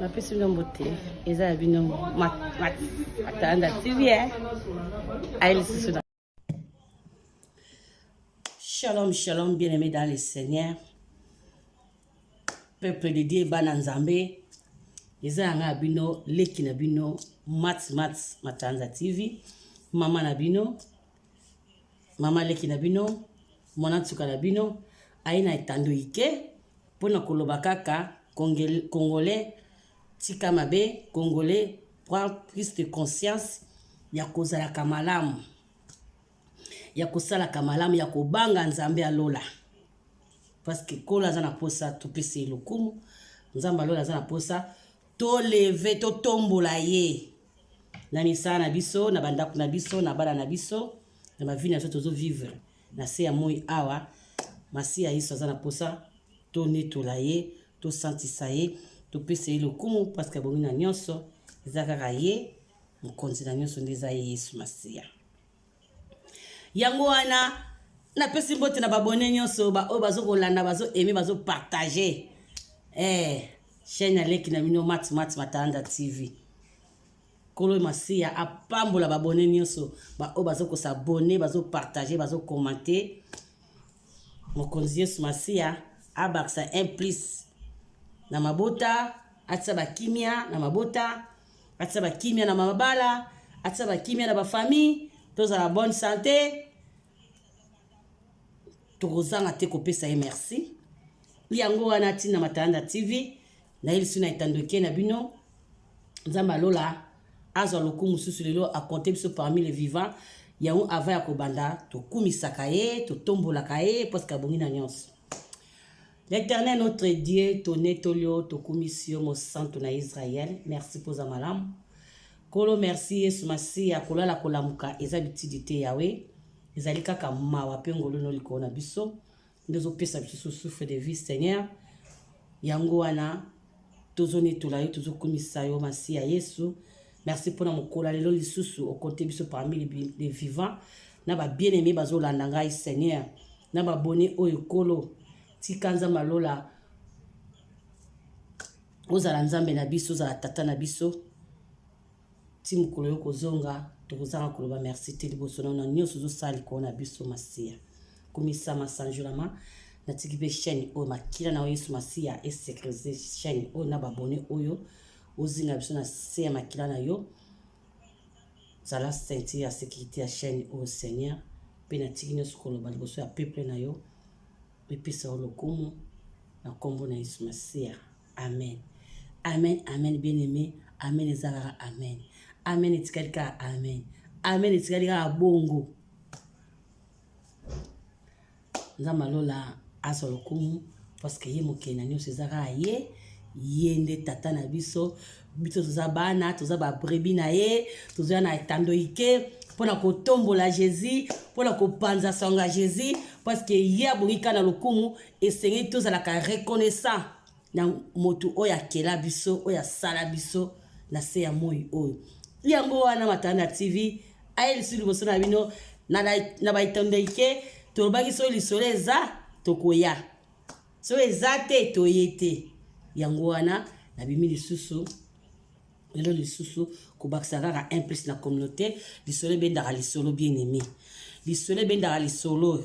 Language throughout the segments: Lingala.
napesi bino mbote eza ya bino matanda tv eh? aye lisusu na shalom shalom bien aimé dans le seigneur peuple de dieu bana nzambe eza yanga ya bino leki na bino mat mat matanda tv mama na bino mama leki na bino mwana nsuka na bino aye na etando ike mpo na koloba kaka congolais tika mabe congolais prend plus de conscience ya kozalaka malamu ya kosalaka malamu ya kobanga nzambe ya lola parce que nkolo aza na mposa topesa ye lokumu nzambe ya lola aza na mposa To leve to tombola ye na misala na biso na bandako na biso na bana na biso na bavi na biso tozo vivre na se ya moi awa masiya yesu aza na mposa tonetola ye tosantisa ye topesa ye lokumu parceke abongi na nyonso eza kaka ye mokonzi na nyonso nde eza ye yesu masiya Yango wana na pesi mbote na babone nyonso ba oyo bazo kolanda bazo aimer bazo partager eh chaîne ya leki na bino Mat Mat Matalanda TV. Kolo Masiya apambola babone nyonso ba oyo bazo ko s'abonner bazo partager bazo commenter. Mokonzi Yesu Masiya abakisa un plus na mabota atisa bakimia na mabota atisa ba kimia na mabala atisa ba kimia na ba famille tozala bonne santé tokozanga te kopesa ye merci yango wana ntina matalanda tv nayelisi na etandoke na bino nzambe alola azwa lokumu mosusu lelo akonte biso parmi le vivant yango ava ya kobanda tokumisaka ye totombolaka ye paske abongi na nyonso L'Eternel notre Dieu, tonetoli yo, tokumisi yo, Mosantu na Israel. Merci mpo oza malamu. Nkolo, merci Yesu Masiya, kolala kolamuka eza bitidi te Yawe, ezali kaka mawa mpe ngolu no likolo na biso, nde ozopesa biso souffle de vie Seigneur. Yango wana tozonetola yo tozokumisa yo masi ya yesu merci mpona mokolo ya lelo lisusu okote biso parmi les vivants na babien aime bazolanda ngai seigneur na babone oyo ekolo tika nzambe alola ozala nzambe na biso ozala tata na biso ti mokolo yo kozonga tokozanga koloba merci te liboso na na nyonso ozosala likolo na biso masiya kumisa masanjolama natiki mpe chaîne oyo makila na yo yesu masiya esecurise chaîne oyo na babone oyo ozinga biso na se ya makila na yo zala senti ya sécurité ya chaîne oyo seigneur mpe natiki nyonso koloba liboso ya peuple na yo epesa yo lokumu na nkombo na yesu masiya amen amen amen bien aime amen eza kaka amen amen etikali kaka amen amen etikali kaka bongo nzambe alola azwa lokumu parceke ye mokili na nyonso eza kaka ye ye nde tata na biso biso toza bana toza babrebi na ye tozoya na etando ike mpo na kotombola jésus mpo na kopanza sango ya jésus parceke ye abongi kaka na lokumu Esengeli tozalaka reconnaissant na moto oyo akela biso, oyo asala biso na se ya moi oyo. Yango wana Matanda TV aye lisusu liboso na bino na baitondeke tolobaki soki lisolo eza tokoya soki eza te toye te yango wana nabimi lisusu lelo lisusu kobakisa kaka un plus na communauté lisolo ebendaka lisolo bien aimé lisolo ebendaka lisolo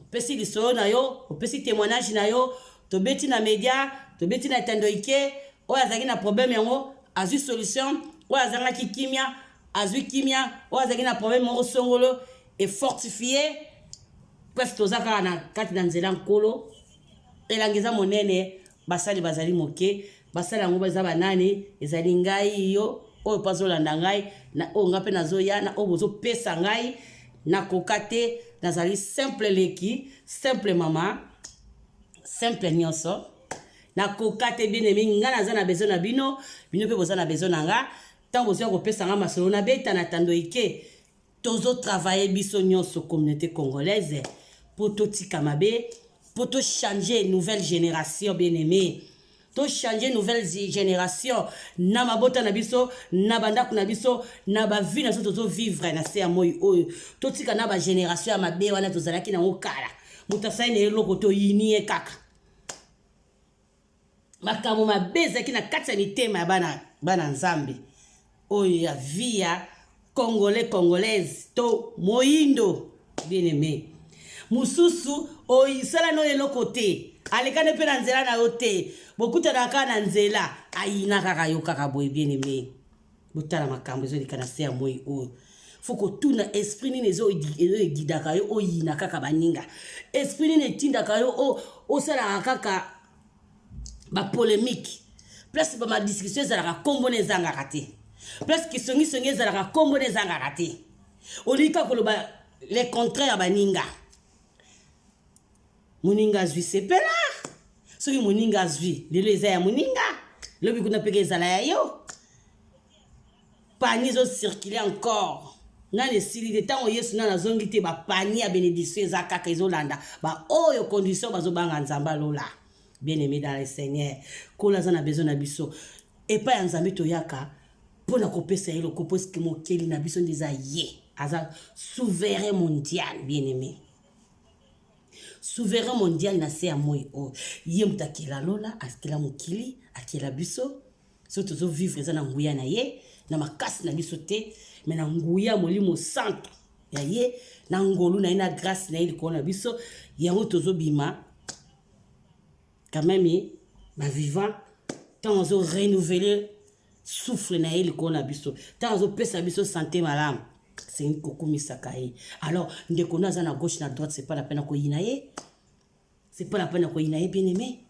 opesi lisolo na yo opesi témoignage na yo tobeti na media tobeti na etando ike oyo azalaki na problème yango azwi solution oyo azangaki kimia azwi kimia oyo azalaki na problème moko songolo efortifie presque toza kaka na kati na nzela nkolo elanga eza monene basali bazali moke basali yango eza banani ezali ngai yo oyo mpe azolanda ngai na oyo ngai mpe nazoya na oyo bozopesa ngai nakoka te nazali simple leki simple mama simple nyonso nakoka te bien aimé ngai naza na besoin na bino bino mpe boza na besoin na ngai ntango bozoya kopesa ngai masolo nabeta na tando ike tozo travailler biso nyonso communauté congolaise mpo totika mabe mpo tochange nouvelle génération bien aimé tochange nouvelle génération na mabota na biso na bandako na biso na bavie na biso tozovivre na se ya moi oyo totika na bagénération ya mabe wana tozalaki nango kala moto asali na eloko toyini ye kaka makambo mabe ezalaki na kati ya mitema ya bana, bana nzambe oyo ya vi ya congolais congolaise to moindo bien aime mosusu oyisala no eloko te alekani mpe na nzela na yo te bokutanaka na nzela ayina kaka yo kaka boye bien aime botala makambo ezoleka na se ya moi oyo fo kotuna esprit nini ezo egidaka yo oyina kaka baninga esprit nini etindaka yo osalaka kaka bapolemike place bamadiscussion ezalaka nkombo na ezangaka te place kisongisongi ezalaka nkombo na ezangaka te olingi kaka koloba le contraire ya baninga moninga azwi sepela soki moninga azwi lelo eza ya moninga lobi kuna mpeke ezala ya yo pani ezocircule encore nani esili te ntango yesu nani azongi te bapani ya benediction eza kaka ezolanda baoyo condition bazobanga nzambe alola bien aimé dans le seigneur kola aza na besoin na biso epai ya nzambe toyaka mpo na kopesa ye lokopo eske mokeli na biso nde eza ye aza souverain mondial bien aimé souverain mondial na se ya moi oyo ye moto akela lola akela mokili akela biso so tozovivre eza na nguya na ye na makasi na biso te me na nguya molimo santu ya ye na ngolu na ye na grâce na ye likolo na biso yango tozobima quand même bavivant ntango azo renouveler souffle na ye likolo na biso ntango azopesa biso sante malamu asengi kokumisaka ye alors ndeko na aza na gauche na droite c'est pas la peine ya koyina ye c'est pas la peine ya koyina ye bien aimé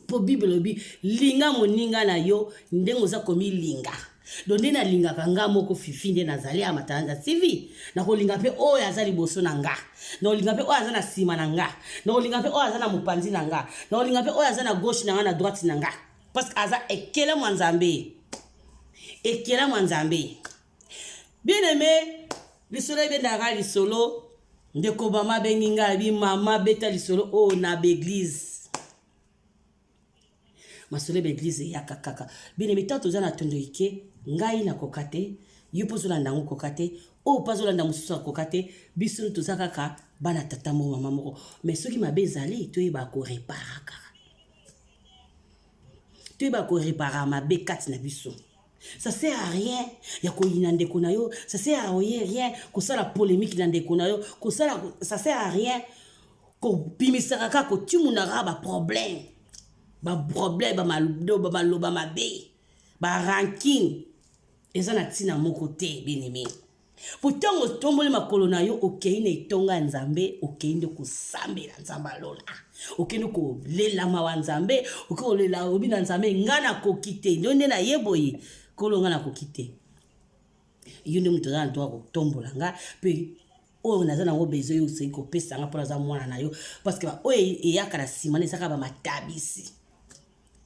mpo bible elobi linga moninga na yo ndenge oza komilinga do nde nalingaka nga moko fifi nde nazali ya matalanda tv nakolinga mpe oyo aza liboso na nga nakolinga mpe oyo aza na nsima na nga nakolinga mpe oyo aza na mopanzi na nga nakolinga mpe oyo aza na gauche na nga na droite na nga parce que aza ekelamu ya nzambe ekelamu ya nzambe bien aime lisolo ebendaka lisolo ndeko mama abengi ngai abi mama beta lisolo oyo oh, na baeglize masolo ya baeglize eyaka kaka bien aime ntango toza na tondo ike ngai nakoka te yo mpo ozolanda yango koka te oyo oh, mpo azolanda mosusu akoka te biso toza kaka bana tata moko mama moko mais soki mabe ezali toyeba koreparaka toyeba korepara mabe kati na biso ça sert à rien ya koyina ndeko na yo ça sert à rien kosala polémique na ndeko na yo kosala ça sert à rien kobimisaka kaka kotimunaka baproblème baproblème bamaloba mabe baranking eza na ntina moko te bien aimé Mpo ntango otomboli makolo na yo, okei na etonga ya Nzambe, okei nde kosambela Nzambe ya lola. Okei nde kolela mawa Nzambe, okei kolela obi na Nzambe, ngai nakoki te, ndio nde naye boye, kolo ngai nakoki te. Yo nde moto oza na droit kotombola ngai, mpe oyo naza nango besoin yo oseki kopesa ngai mpo naza mwana na yo, parce que oyo eyaka na nsima na ezaka bamatabisi.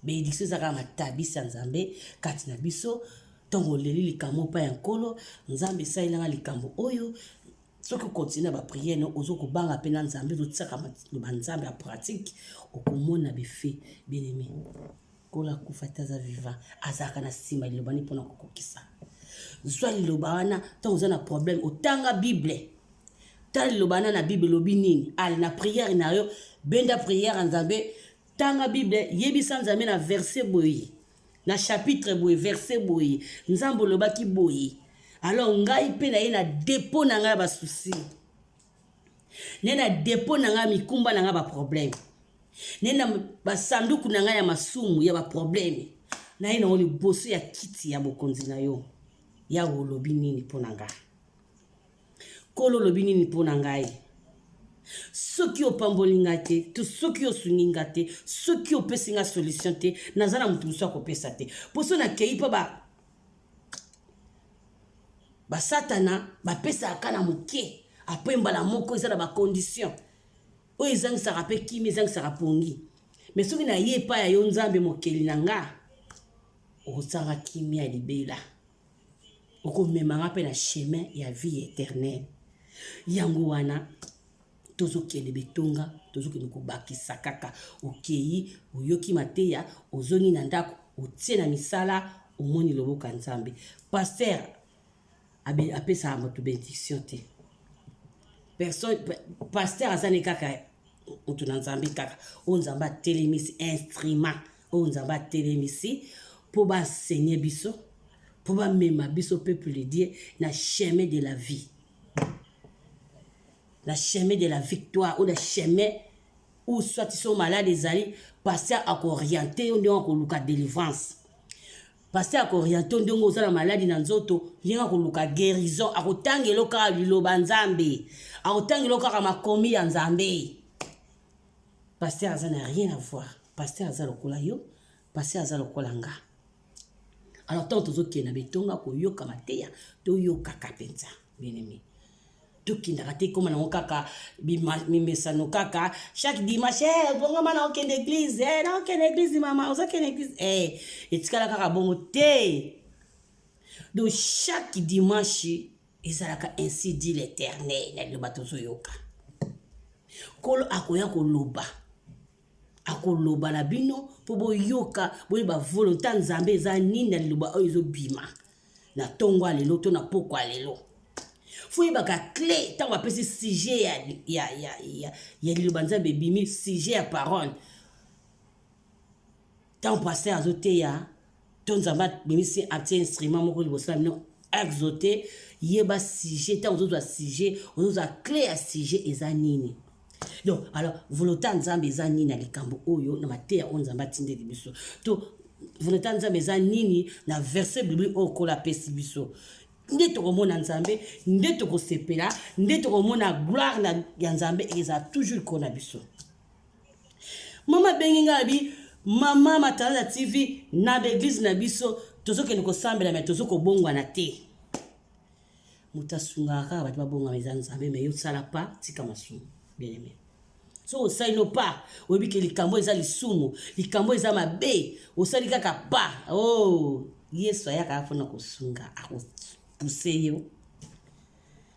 Benediction eza kaka matabisi ya Nzambe kati na biso ntango oleli likambo epai ya Nkolo, Nzambe esalela nga likambo oyo, soki okontinue na bapriere no ozo kobanga mpe na Nzambe ozotiaka maloba Nzambe ya pratique, okomona bife bien aime. Nkolo akufa te aza vivant, azalaka na nsima liloba ni mpo na kokokisa. Zwa liloba wana ntango oza na problème, otanga Bible tala liloba wana na Bible elobi nini, ale na priere na yo, benda priere ya Nzambe Tanga Bible, yebisa Nzambe na verse boye, na chapitre boye, verse boye, Nzambe olobaki boye. Alors ngai mpe naye na depot na ngai ya basusi, naye na depot na ngai ya mikumba na ngai baproblème, naye na basanduku na ngai ya masumu ya baproblème, naye nango liboso ya kiti ya bokonzi na yo. Yawe olobi nini mpo na ngai? Nkolo, olobi nini mpo na ngai? soki opamboli nga te to soki osungi nga te soki opesi nga solution te naza na moto mosusu akopesa te mpo so nakei mpo ba basatana bapesaka kaka na moke apres mbala moko eza na bacondition oyo ezangisaka mpe kimi ezangisaka pongi me soki naye epai ya yo nzambe mokeli na nga okosanga kimia libela okomema nga mpe na chemin ya vie éternelle yango wana tozokende betonga tozokende kobakisa kaka okei oyoki mateya ozongi na ndako otie na misala omoni loboko ya nzambe paster apesaka moto benediction te personne paster aza ne kaka moto na nzambe kaka oyo nzambe atelemisi instrument oyo nzambe atelemisi mpo basenye biso mpo bamema biso peuple de dieu na chemin de la vie na chemin de la victoire ou na chemin ou soit so malade ezali pasteur akooriente yo ndenge akoluka délivrance pasteur akooriente yo ndenge oza na maladi na nzoto ndenge akoluka guérison akotangela yo kaka liloba nzambe akotangela yo kaka makomi ya nzambe Pasteur aza na rien à voir. Pasteur aza lokola yo, pasteur aza lokola nga. Alors tant tozokende na bitonga koyoka mateya, toyokaka mpenza bien aimé. tokendaka te ekóma nango kaka mimesano kaka chaque dimanche eh, bongoma na okende église eh, na okende église mama ozokende église eh, etikala kaka bongo te donc chaque dimanche ezalaka ainsi dit l'Eternel ya liloba tozoyoka. Nkolo akoya koloba akoloba na bino mpo boyoka boyeba volonte ya nzambe eza nini na liloba oyo ezobima na ntongo ya lelo to na mpoko ya lelo foyebaka cle ntango apesi sujet ya, ya, ya, ya, ya liloba nzambe ebimi sujet ya parole ntango pasteur azoteya to nzambe abimisi atie instrument moko liboso na bino exote yeba sujet ntango ozozwa sujet ozozwa cle ya sujet eza nini donc alors volonté ya nzambe eza nini na likambo oyo na mateya oyo nzambe atindeli biso to volonté ya nzambe eza nini na verset biblique oyo kola apesi biso nde tokomona nzambe nde tokosepela nde tokomona gloire ya nzambe eza toujours likolo na biso Mama bengi nga bi mama matala na TV na l'église na biso tozo kende ko sambela mais tozo ko bongwana te. Muta sunga kaka batu ba bonga mais nzambe mais yo sala pa tika masumu. Bien aimé. So osali no pa oyebi ke likambo eza lisumu, likambo eza mabe, osali kaka pa. Oh, Yesu ayaka afona kosunga, akopuse yo.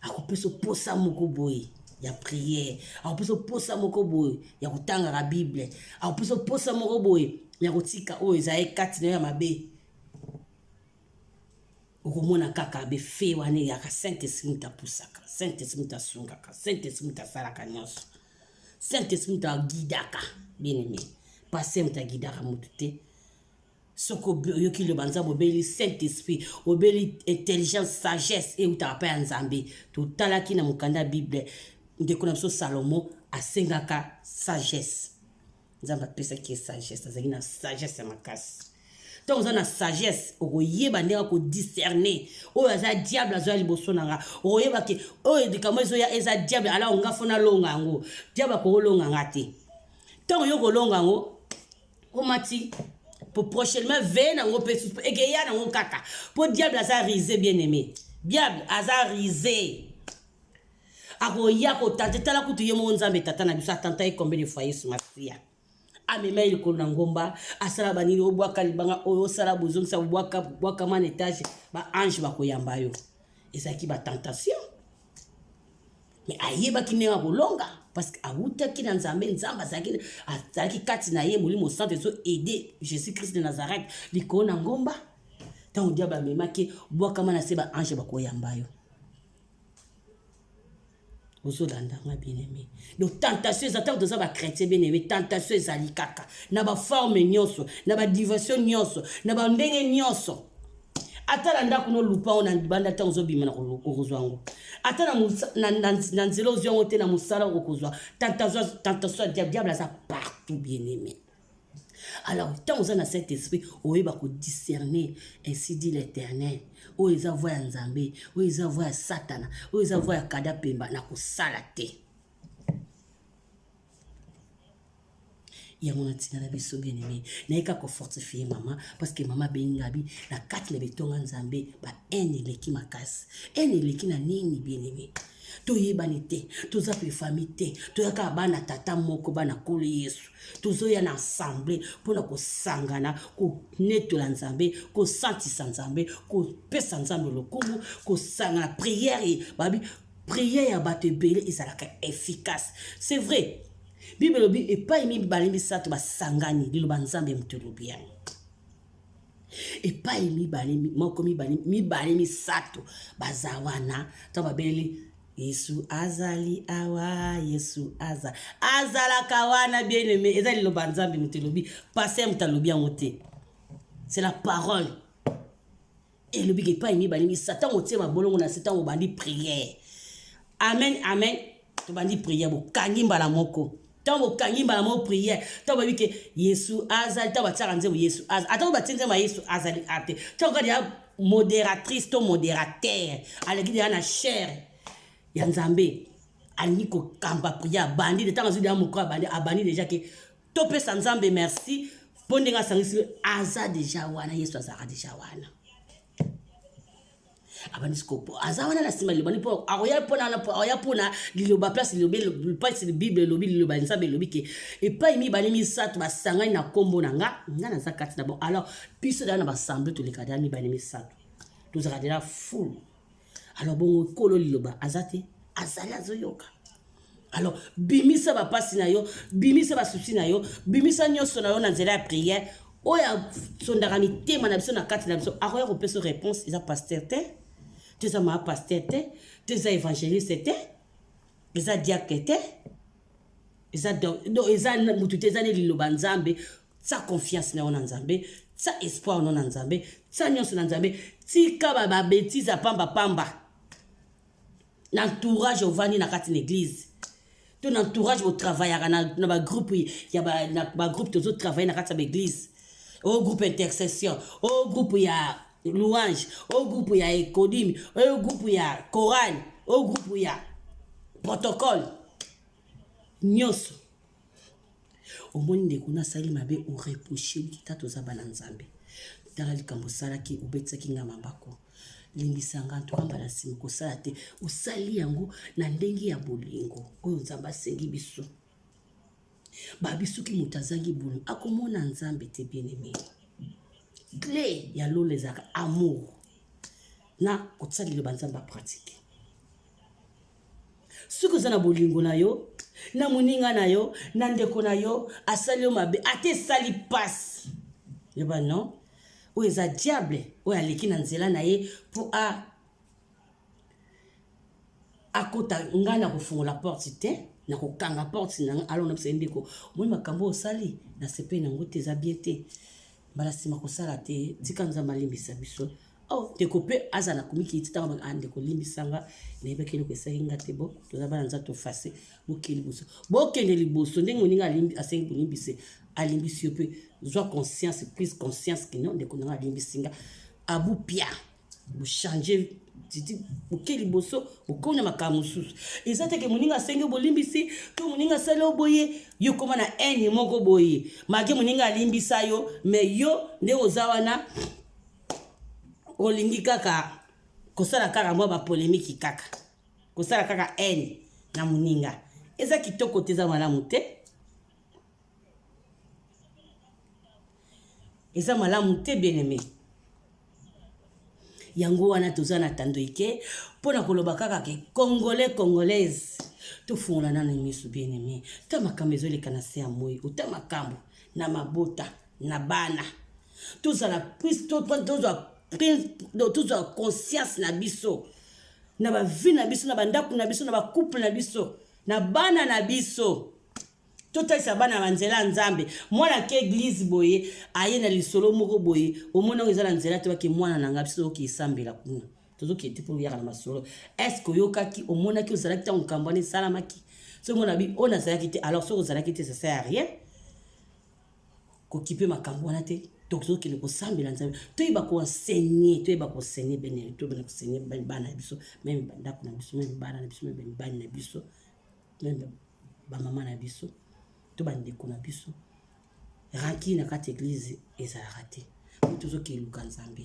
akopesa mposa moko boye ya priere akopesa mposa moko boye ya kotangaka bible akopesa mposa moko boye ya kotika oyo ezali kati na yo ya mabe okomona kaka befe wana eyaka saint esprit moto apusaka saint esprit moto asungaka saint esprit moto asalaka nyonso saint esprit moto agidaka bien aime pase moto agidaka moto te soki oyoki liloba nzambe obeli saint esprit obeli intelligence sagesse eutaka mpe ya nzambe totalaki na mokanda ya bible ndeko na biso salomo asengaka sagesse nzambe apesaki ye sagesse azalaki na sagesse ya makasi ntango oza na sagesse okoyeba ndenge akodiscerne oyo aza diable azoya liboso na nga okoyeba ke oyo likambo ezoya eza diable alao nga fo nalonga yango diable akokolonga nga te ntango yo kolonga yango omati prochainement veye nango mpe susu ekeya nango kaka mpo diable aza rise bien aimé diable aza rise akoya kotante tala kutu ye moko nzambe tata na biso atanta ye combien de fois yesu masiya amema ye likolo na ngomba asala banini obwaka libanga oyo osala bozongisa bwakama na etage baange bakoyamba yo ezalaki batentation mais ayebaki ndenge akolonga parce que awutaki na nzambe nzambe azalaki azalaki kati na ye molimo santo ezo aide jésus christ de nazareth likolo na ngomba ntango diable amemaki bwakama na se baange bakoyamba yo ozolanda nga bien aimé donc tentation eza ntango toza bachrétien bien aimé tentation ezali kaka na baforme nyonso na badiversion nyonso na bandenge nyonso ata na ndako no lupa yango na libanda ntango ozobima okozwa yango ata na nzela ozwi yango te na mosala okozwa tentation ya diable aza partout bien aimé alors ntango oza na cet esprit oyeba kodiscerne ainsi dit l'éternel oyo eza voi ya nzambe oyo eza voi ya satana oyo eza voi ya kada mpemba na kosala te yango na tina na biso bien aimé naye kaka kofortifie mama parce que mama abengi ngabi na kati na betonga nzambe ba haine eleki makasi haine eleki na nini bien aimé toyebani te toza mpe famille te toya kaka bana tata moko bana kolo yesu tozoya na ensemble mpo na kosangana konetola nzambe kosantisa nzambe kopesa nzambe lokumu kosangana priere babi Prière ya bato ebele ezalaka efficace. C'est vrai. Bible elobi epai mibale misato basangani liloba Nzambe moto elobi yango. Epai mibale moko mibale mibale misato baza wana to babeli yesu azali awa yesu aza azalaka wana bien aime eza liloba nzambe moto elobi paster moto alobi yango te c'est la parole elobi ke epai mibale misa ntango otie mabolongo na se ntango obandi priere amen amen tobandi priere bokangi mbala moko ntango bokangi mbala moko priere ntango bayebi ke yesu azali ntango batiaka nzembo yesu azali atako batie nzembo ya yesu azali ate ntango kaka ya modératrice to modérateur aleki deya na chere ya nzambe alingi kokamba priere abandi te ntango azwi deya mokolo abandi abandi deja ke topesa nzambe merci mpo ndenge asangisi aza deja wana yesu azalaka deja wana abandisi kopo aza wana na nsima lilobani mpo akoya mpona wana mpo akoya mpona liloba place lilobi place bible elobi liloba nzambe elobi ke epai mibale misato basangani na nkombo na nga nga naza kati na bango alors biso dala na basamble toleka dala mibale misato tozalaka dela fulu alors bongo kolo liloba aza te azali azoyoka alors bimisa bapasi na yo bimisa basusi na yo bimisa nyonso na yo na nzela ya priere oyo asondaka mitema na biso na kati na biso akoya kopesa réponse eza paster te to eza maa paster te to eza évangéliste te eza diacre te eza motu te eza ne liloba nzambe Tya confiance na yo na Nzambe, tya espoir no na Nzambe, tya nyonso na Nzambe, tika ba ba betises ya pamba pamba. Na entourage ovandi na kati na eglise, to na entourage bo travaillaka na, na ba groupe ya ba, na ba groupe tozo travailler na kati ya ba eglise. O groupe intercession, o groupe ya louange, o groupe ya ekodimi, o groupe ya chorale, o groupe ya protocole. Nyonso Omoni ndeko na asali mabe o reproche ye kita toza bana Nzambe. Tala likambo osalaki obetisaki nga mabako. Limbisa nga ntuka mbala nsima kosala te. Osali yango na ndenge ya bolingo oyo Nzambe asengi biso. Babi soki moto azangi bolingo akomona Nzambe te bien aimé. Gle ya lola ezalaka amour na kotia liloba Nzambe apratike. soki oza na bolingo na yo na moninga na yo na ndeko na yo asali yo mabe ata esali mpasi yeba non oyo eza diable oyo aleki na nzela na ye mpo a akota ngai na kofungola porte te na kokanga porte na ngai alo nabisa ye ndeko omoni makambo oyo osali nasepeli na yango te eza bie te mbala nsima kosala te tika nzambe alimbisa biso Oh, ndeko mpe azala komikili ti ntango ah, ndeko limbisa nga nayebaki eloko esali nga te bo toza bana nza tofase bokende liboso bokende liboso ndenge moninga asengi bolimbise alimbisi yo mpe zwa conscience prise conscience kino ndeko nanga alimbisi nga abupia bochange titi boke liboso bokomi na makambo mosusu eza teke moninga asengi bolimbisi to moninga asali yo boye yo koma na haine moko boye make moninga alimbisa yo me yo nde oza wana olingi kaka kosala kaka mwa bapolemiki kaka kosala kaka haine na moninga eza kitoko te eza malamu te eza malamu te bieneme yango wana toza na tando eke mpo na koloba kaka ke congolais congolaise tofungola nano miso bieneme ta makambo ezoleka na se ya moi ota makambo na mabota na bana tozala plus tozwa tozwa conscience na biso na bavi na biso na bandako na biso na bacouple na biso na bana na biso totalisa bana na nzela ya nzambe mwana ake eglize boye aye na lisolo moko boye omoni yango eza na nzela te bake mwana na ngai biso tozoki esambela kuna tozokende te mpo oyaka na masolo estce oyokaki omonaki ozalaki ntango likambo wana esalamaki soki mona bi oyo nazalaki te alors soki ozalaki te sasa ya rien kokipe makambo wana te tozokende kosambela nzambe toyeba koensegne toyeba koensegne bene toyebana koensegne bana na biso meme bandako na biso meme bana na biso meme mibali na biso meme bamama na biso to bandeko na biso ranki na kati ya eglize ezalaka te po tozokende luka nzambe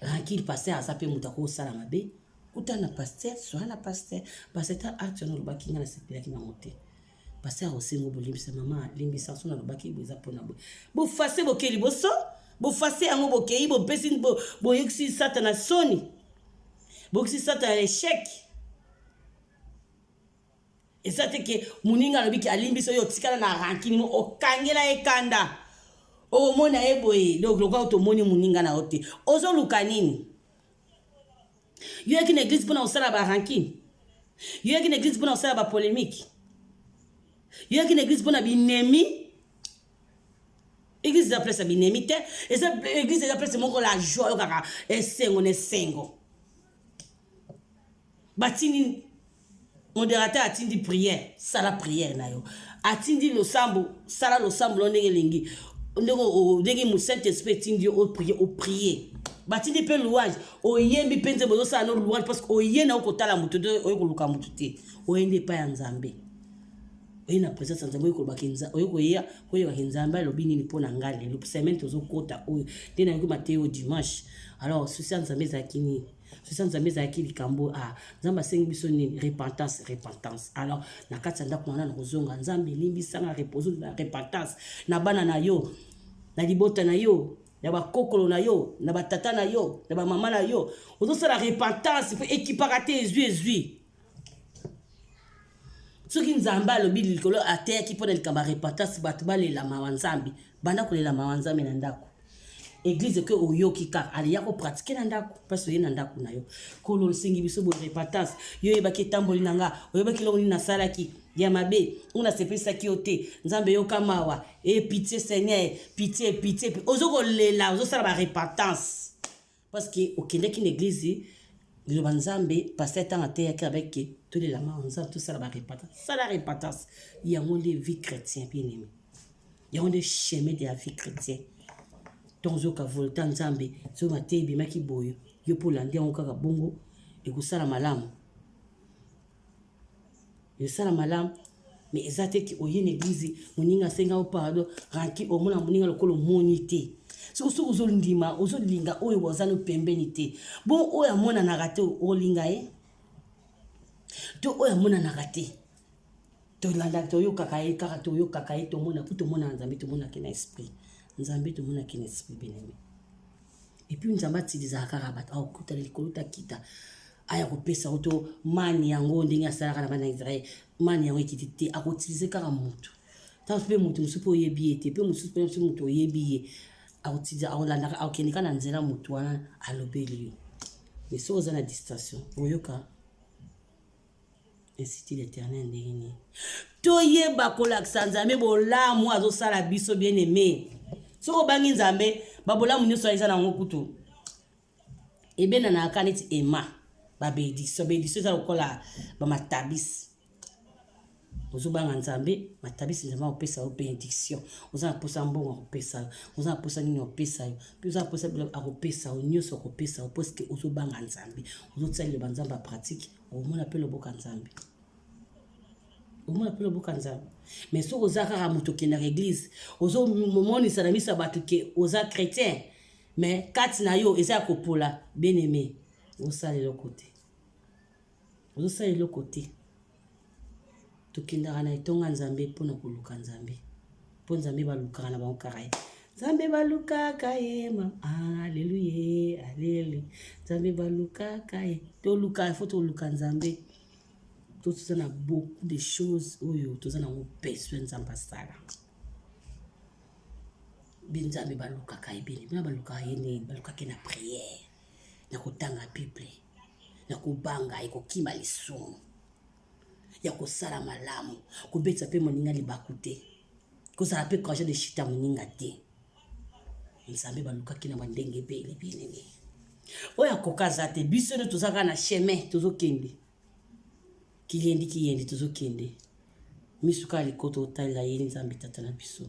ranki paster aza mpe moto akosala mabe kuta na paster soa na paster paster ta acte wana olobaki ngai nasepelaki nango te pasteur osengo bolimbisa mama limbisa nso nalobaki bo eza mpona boye bofase bokei liboso bofase yango bokei bopesi boyokisi satana soni boyokisi satana echec eza te ke moninga alobi ke alimbisa oyo otikala na rankini mo okangela ye kanda okomona ye boye donc lokola tomoni moninga na yo te ozoluka nini Yo yaki na eglise mpona kosala ba rankine. Yo yaki na eglise mpona kosala ba polemique. Yo yaki na eglise mpona binemi. Eglise eza place ya binemi te. Eza eglise eza place moko la joie yo kaka esengo na esengo. Batini Moderateur atindi prière, sala prière na yo. Atindi losambo, sala losambo na ndenge elingi. Ndenge ndenge mu Saint Esprit atindi yo o prier, o prier. Batindi pe louange, oyembi pe nzembo ozosala no louange parce que oye na okotala moto te, oye koluka moto te. Oye nde epai ya Nzambe. Oye na présence ya Nzambe, oye kolobaka Nzambe, oye koya, koyebaka Nzambe alobi nini mpo na ngai lelo. Semaine tozokota oyo, nde nayoki mateyo dimanche. Alors, souci ya Nzambe ezalaki nini? sosa nzambe ezalaki likambo a ah, nzambe asengi biso nini repentance repentance alors na kati ya ndako wana na kozonga nzambe elimbisanga repose na repentance na bana na yo na libota na yo na bakokolo na yo na batata na yo na bamama na yo ozosala repentance mpe ekipaka te ezwi ezwi soki nzambe alobi likolo ateyaki mpo na likambo ya repentance bato balela mawa nzambe banda kolela mawa nzambe na ndako eglize ke oyoki kaka aliya kopratike na ndako mpasi oye na ndako na yo kolo osengi biso boye repentance yo oyebaki etamboli na nga oyebaki eloko nini nasalaki ya mabe oyo nasepesaki yo te nzambe yoka mawa e eh, pitie seigneur pitie pitie ozokolela ozosala barepentance Parce que okendeki na eglise liloba nzambe pasteur ntango ateyaki avec que tolela mawa nzambe tosala barepatance sala repatance yango nde vie chrétien bien aimé yango nde chemin de la vie chrétien ntongo ozoyoka volta nzambe soki mateya ebimaki boye yo mpo olandi yango kaka bongo ekosala malamu Misala malamu mais eza te ki oye na eglise moninga asenga yo pardon ranki omona moninga lokola omoni te soko soki ozondima ozolinga oyo waza no pembeni te bon oyo amonanaka te olinga ye to oyo amonanaka te tolandaka toyokaka ye kaka toyokaka ye tomona ku tomonaka nzambe tomonaki na esprit nzambe tomonaki na esprit beneme epuis nzambe atilisaka kaka bato aokutana likolo takita aya kopesa yo to mani yango ndenge asalaka na bana ya israele mani yango ekiti te akoutilize kaka motu ntango mpe motu mosusu mpe oyebi ye te mpe mosusu mpe mosusu motu oyebi ye akoutilize akolandaka akokende kaka na nzela motu wana alobeli yo mais soki oza na distraction oyoka Institut l'Eternel ndenge nini? Toyeba kolakisa Nzambe bolamu azosala biso bien aimé. Soki obangi Nzambe, babolamu nyonso eza na yango kutu. Ebendanaka neti ema, babediso. Bediso eza lokola bamatabisi. Ozobanga Nzambe, matabisi Nzambe akopesa yo benediction. Oza na posa mbongo akopesa yo. Oza na posa nini akopesa yo. Mpe oza na posa akopesa yo nyonso akopesa yo mpo sike ozobanga Nzambe. Ozotia liloba Nzambe ya pratique. omona mpe loboka nzambe omona mpe loboka nzambe mais soki oza kaka moto okendaka eglize ozomonisa na miso ya bato ke oza chrétien mais kati na yo eza ya kopola bien aime osala eloko te ozosala eloko te Tokendaka na etonga Nzambe mpo na koluka Nzambe. Mpo Nzambe balukaka na bango kaka ye. Nzambe balukaka ye ma aleluya alelu. Nzambe balukaka ye. Toluka ifo toluka Nzambe. To toza na beaucoup de choses oyo toza na yango besoin Nzambe asala. Bi Nzambe balukaka ye bini. Bina balukaka ye nini? Balukaka ye na prière, na kotanga Bible, na kobanga ye, kokima lisumu. ya kosala malamu kobetisa mpe moninga libaku te kozala mpe courage de chita moninga te nzambe balukaki na bandenge ebele bienene oyo akoka aza te biso nde tozalaka na chemin tozokende kiyendi kiyendi tozokende miso kaka likoto otalela ye nzambe tata na biso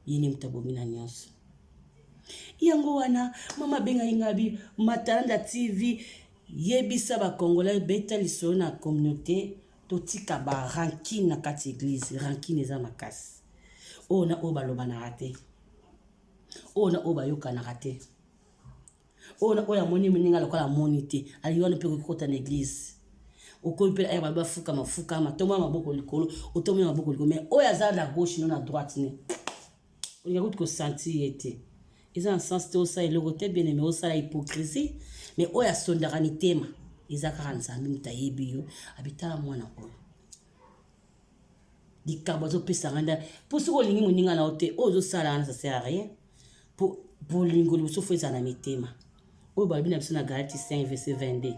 ye nde moto abomi na nyonso yango wana mama abengaki ngabi matalanda tv Yebisa ba congolais beta lisolo na communaute totika ba rancune na kati ya eglise rancune eza makasi oyo na oyo balobanaka te oyo na oyo bayokanaka te oyo na oyo amoni moninga alokola amoni te alingi wana mpe kokikota na eglise okomi mpe aya babi bafuka mafuka matombo ya maboko likolo otombo ya maboko likolo mai oyo aza na gauche no na droite ne olinga kutu kosentir ye te eza na sens te osala eloko te bien aime osala hypocrisie mais oyo asondaka mitema eza kaka nzambe moto ayebi yo abitala mwana oyo likambo azopesa ngai nda mpo soki olingi moninga na yo te oyo ozosala wana sasera rien mpo bolingo liboso fo ezala na mitema oyo balobi na biso na galati 5 verse 22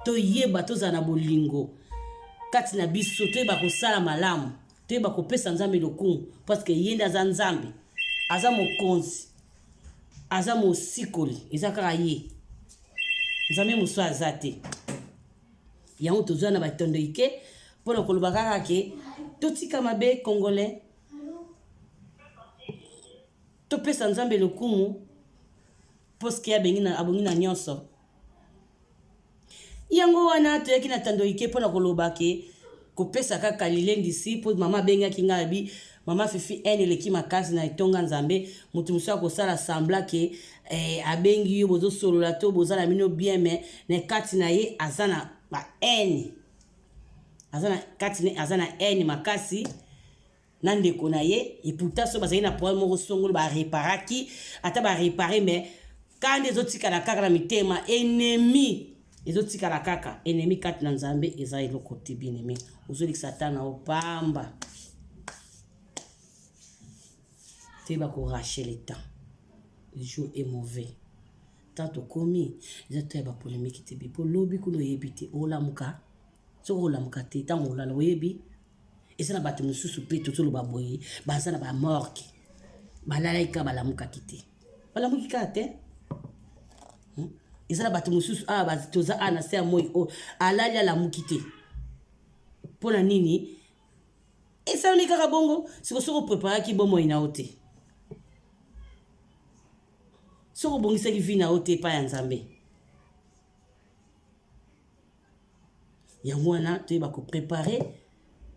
toyeba tozala na bolingo kati na biso toyeba kosala malamu toyeba kopesa nzambe lokumu parceke ye nde aza nzambe aza mokonzi aza mosikoli eza kaka ye nzambe mosusu aza te yango tozwa na batondo ike mpo na koloba kaka ke totika mabe congolais topesa nzambe lokumu Puisque abengi na, abongi na nyonso. Yango wana toyaki na Tandoike mpo na koloba ke kopesa kaka lilendisi mpo mama abengaki ngai abi mama Fifi haine eleki makasi na etonga Nzambe moto mosusu akosala sembla ke eh, abengi yo bozosolola to boza na bino bien mais na kati na ye aza na ba haine aza na kati na aza na haine makasi na ndeko na ye et pourtant so bazali na problème moko songolo ba réparaki ata ba réparer mais kanda ezotikala kaka na mitema ennemi ezotikala kaka ennemi kati na nzambe eza eloko te bien aimé ozolekisa ata na opamba te bakorache le temps le jour est mauvais temps tokomi eza to ya bapolemiki te bipo lobi kuna oyebi te olamuka soki olamuka te ntango olala oyebi eza na bato mosusu mpe tozoloba boye baza na bamorke balalaki kaka balamukaki te balamuki kaka te hmm? eza na bato mosusu awa ah, toza awa ah, na se ya moi oyo oh, alali alamuki te mpo na nini esalami kaka bongo siko soki opreparaki bomoi na yo te soki obongisaki vi na yo te epai ya nzambe yango wana toyeba koprepare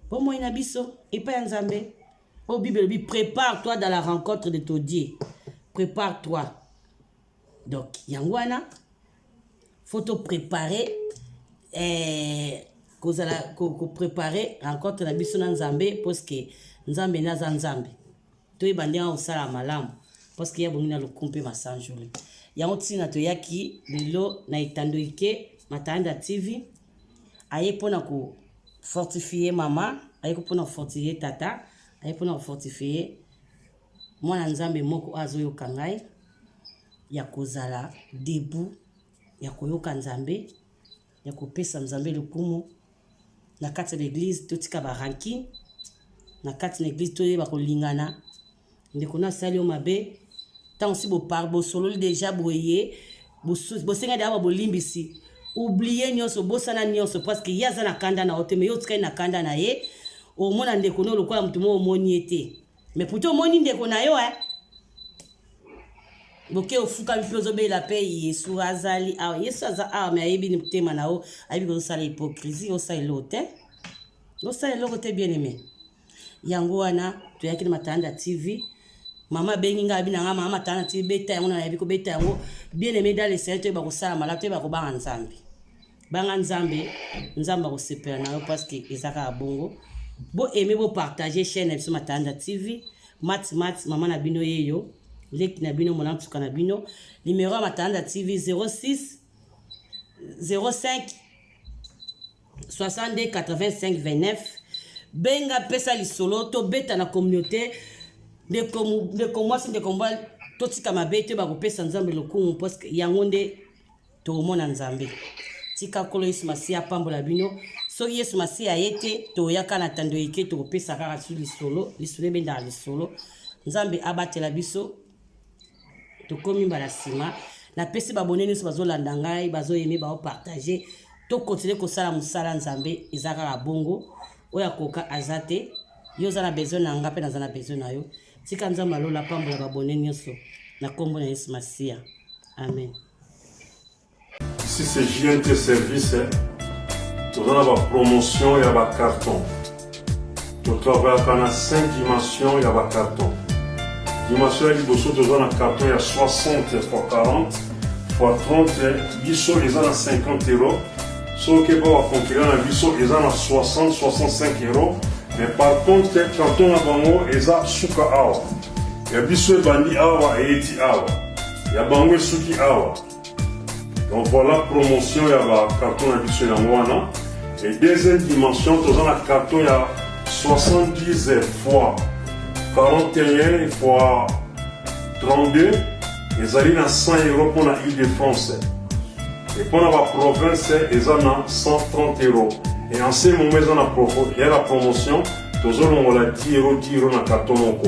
bomoi na biso epai ya nzambe oyo bible elobi prépare toi dans la rencontre de todie prépare toi donc yango wana faut toprépare eh, kozala koprépare rencontre na biso na nzambe parceke nzambe naza nzambe toyeba ndenge akosala malamu parceke ye abongi na lokumu mpe masanjoli yango ntina toyaki lelo na etando ike matanda tv aye mpo na kofortifie mama aye mpo na kofortifie tata aye mpo na kofortifie mwana nzambe moko oyo azoyoka ngai ya kozala debu ya koyoka nzambe ya kopesa nzambe lokumu na kati ya baeglize totika barankin na kati na eglize toyeba kolingana ndeko na asali yo mabe ntango si bopar bosololi deja boye bosenga deja babolimbisi oublie nyonso obosana nyonso parceke ye aza na kanda na yo te me yo otikali na kanda na ye omona ndeko no lokola moto moko omoni ye te Mais pourtant omoni ndeko na yo eh? boke ofukami mpe ozobela mpe yesu azali awa yesu aza awa me ayebi ni motema na yo ayebi kozosala hypocrisie osala eloko te osala eloko te bien aime yango wana toyaki na matanda tv mama abengi ngai abi na ngai mama matanda tv beta yango nayebi kobeta yango bien aime dalesene toyeba kosala malamu toyeba kobanga nzambe banga nzambe nzambe akosepela na yo parceke eza kaka bongo bo aime bo partage chaîne na biso matanda tv mat mat mama na bino yeyo leki na bino mona nsuka na bino numero ya matanda tv 06 05 62 85 29 benga pesa lisolo tobeta na communauté ndeko mwasi ndeko mobali totika mabe te bakopesa nzambe lokumu parceke yango nde tokomona nzambe tika nkolo yesu masiya apambola bino soki yesu masiya aye te toyaka na tando eke tokopesa kaka su lisolo lisolo ebendaka lisolo nzambe abatela biso tokomi mbala nsima napesi babone nyonso bazolanda ngai bazoyeme baopartage tokontinue kosala mosala nzambe eza kaka bongo oyo akoka aza te yo oza na besoin na nga mpe naza na besoin na yo tika nzambe alola apambola babone nyonso na nkombo na yesu masiya amen Ici c'est JNT Service. Toza na ba promotion ya ba carton. Totravaillaka na 5 dimension ya ba carton. Dimension ya liboso toza na carton ya 60 x 40 x 30 biso eza na 50 euro. Soki epa ba concurrent na biso eza na 60 65 euro. Mais par contre carton na bango eza suka awa. Ya biso ebandi awa eyeti awa. Ya bango esuki awa. Donc voilà promotion ya ba carton na biso yango wana. Et deuxième dimension toza na carton ya 70 fois 41 fois 32 ezali na 100 euro mpo na ile de france e mpo na baprovince eza na 130 euro e en ce moment eza na ya la promotion tozolongola 10 euro 10 euro na karton moko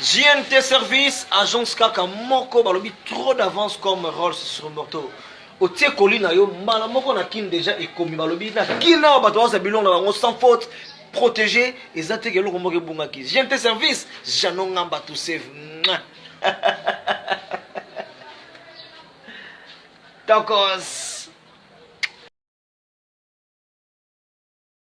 JNT service agence kaka moko balobi trop d'avance comme Rolls sur moto otie koli na yo mbala moko na kin deja ekomi balobi na kin awa bato baosa bilongo na bango sans faute protégé eza teke eloko moko ebungaki JNT service jano ngamba to save tokos